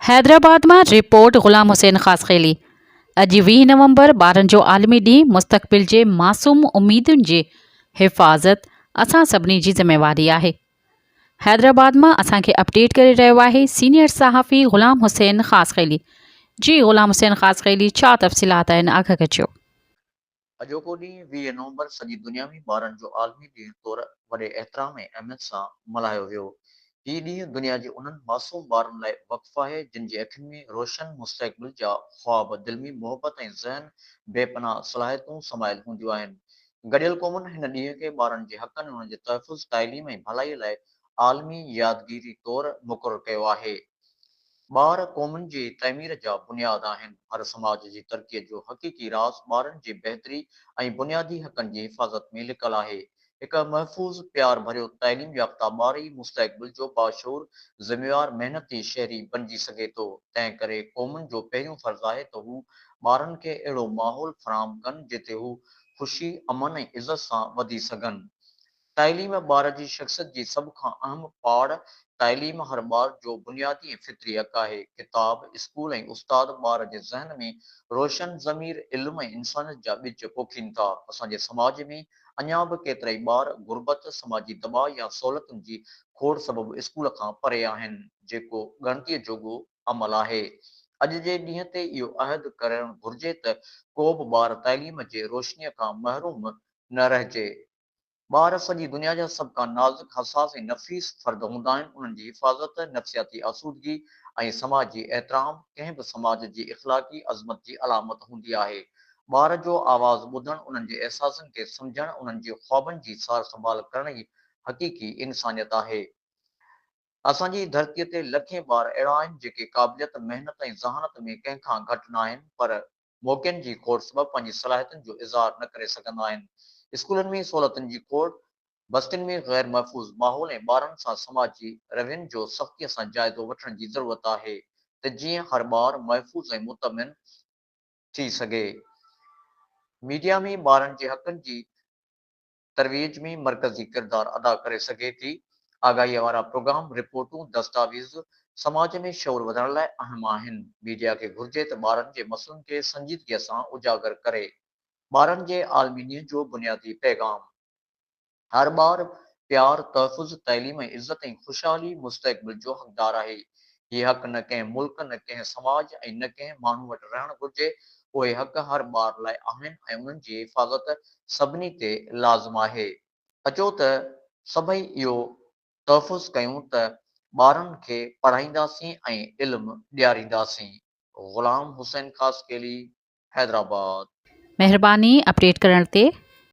حيدرآباد مان رپورٽ غلام حسين خاصخيلي، اڄ ويهه نومبر ٻارن جو عالمي ڏينهن مستقبل جي معصوم اميدن جي حفاظت اسان سڀني جي ذميواري آهي. حيدرآباد مان اسان کي اپڊيٽ ڪري رهيو آهي سينيئر صحافي غلام حسين خاصخيلي جي غلام حسين خاصخيلي ڇا تفصيلات آهن آگهه ڪجو. اڄوڪو ڏينهن ويهه نومبر سڄي دنيا ۾ ٻارن جو عالمي ڏينهن طور وڏي احترام ۽ اهميت سان ملهايو ويو. هي ڏينهن دنيا جي انهن معصوم ٻارن لاء وقف آهي جن جي اکين ۾ روشن مستقبل جا خواب، دل ۾ محبت ۽ ذهن بي پناهه صلاحيتون سمايل هونديون آهن. گڏيل قومن هن ڏينهن کي ٻارن جي حقن، انهن جي تحفظ، تعليم ۽ ڀلائي لاء عالمي يادگيري طور مقرر ڪيو آهي. ٻار قومن جي تعمير جا بنياد آهن، هر سماج جي ترقيء جو حقيقي راز ٻارن جي بهتري ۽ بنيادي حقن جي حفاظت ۾ لڪل آهي. هڪ محفوظ، پيار ڀريو تعليم يافته ٻار ئي مستقبل جو باشعور، ذميوار محنتي شهري بنجي سگهي ٿو، تنهن ڪري قومن جو پهريون فرض آهي ته هو ٻارن کي اهڙو ماحول فراهم ڪن جتي هو خوشي، امن ۽ عزت سان وڌي سگهن. تعليم ٻار جي شخصيت جي سڀ کان اهم پاڙ، تعليم هر ٻار جو بنيادي ۽ فطري حق آهي. ڪتاب، اسڪول ۽ استاد ٻار جي ذهن ۾ روشن ضمير، علم ۽ انسانيت جا ٻج پوکين ٿا. اسان جي سماج ۾ اڃا به ڪيترائي ٻار غربت، سماجي دٻاء يا سهولتن جي کوڙ سبب اسڪول کان پري آهن، جيڪو ڳڻتيء جوڳو عمل آهي. اڄ جي ڏينهن تي اهو عهد ڪرڻ گهرجي ته ڪو به ٻار تعليم جي روشنيء کان محروم نه رهجي. ٻار سڄي دنيا جا سڀ کان نازڪ، حساس ۽ نفيس فرد هوندا آهن، انهن جي حفاظت، نفسياتي آسودگي ۽ سماج جي احترام، ڪنهن به سماج جي اخلاقي عظمت جي علامت هوندي آهي. ٻار جو آواز ٻڌڻ، انهن جي احساسن کي سمجهڻ، انهن جي خوابن جي سار سنڀال ڪرڻ ئي حقيقي انسانيت آهي. اسان جي ڌرتيء تي لکين ٻار اهڙا آهن، جيڪي قابليت، محنت ۽ ذهانت ۾ ڪنهن کان گهٽ ناهن، پر. موقعن جي کوٽ سبب پنهنجي صلاحيتن جو اظهار نه ڪري سگهندا آهن، اسڪولن ۾ سهولتن جي کوٽ، بستين ۾ غير محفوظ ماحول ۽ ٻارن سان سماجي روين جو سختيء سان جائزو وٺڻ جي ضرورت آهي ته جيئن هر ٻار محفوظ ۽ مطمئن ٿي سگهي. ميڊيا ۾ ٻارن جي حقن جي ترويج ۾ مرڪزي ڪردار ادا ڪري سگهي ٿي. آگاهيء وارا پروگرام، رپورٽون، دستاويز سماج ۾ شعور وڌڻ لاء اهم آهن. ميڊيا کي گهرجي ته ٻارن جي مسئلن کي سنجيدگيء سان اجاگر ڪري. ٻارن جي عالمي ڏينهن جو بنيادي پيغام. هر ٻار پيار، تحفظ، تعليم ۽ عزت ۽ خوشحالي مستقبل جو حقدار آهي. هي حق نه ڪنهن ملڪ، نه ڪنهن سماج ۽ نه ڪنهن ماڻهو وٽ رهڻ گهرجي. اهي حق هر ٻار لاء آهن ۽ انهن جي حفاظت سڀني تي لازم آهي. اچو ته سڀئي اهو تحفظ ڪيون ته ٻارن کي پڙهائينداسين ۽ علم ڏيارينداسين. غلام حسين خاصخيلي، حيدرآباد. مهرباني اپڊيٽ ڪرڻ تي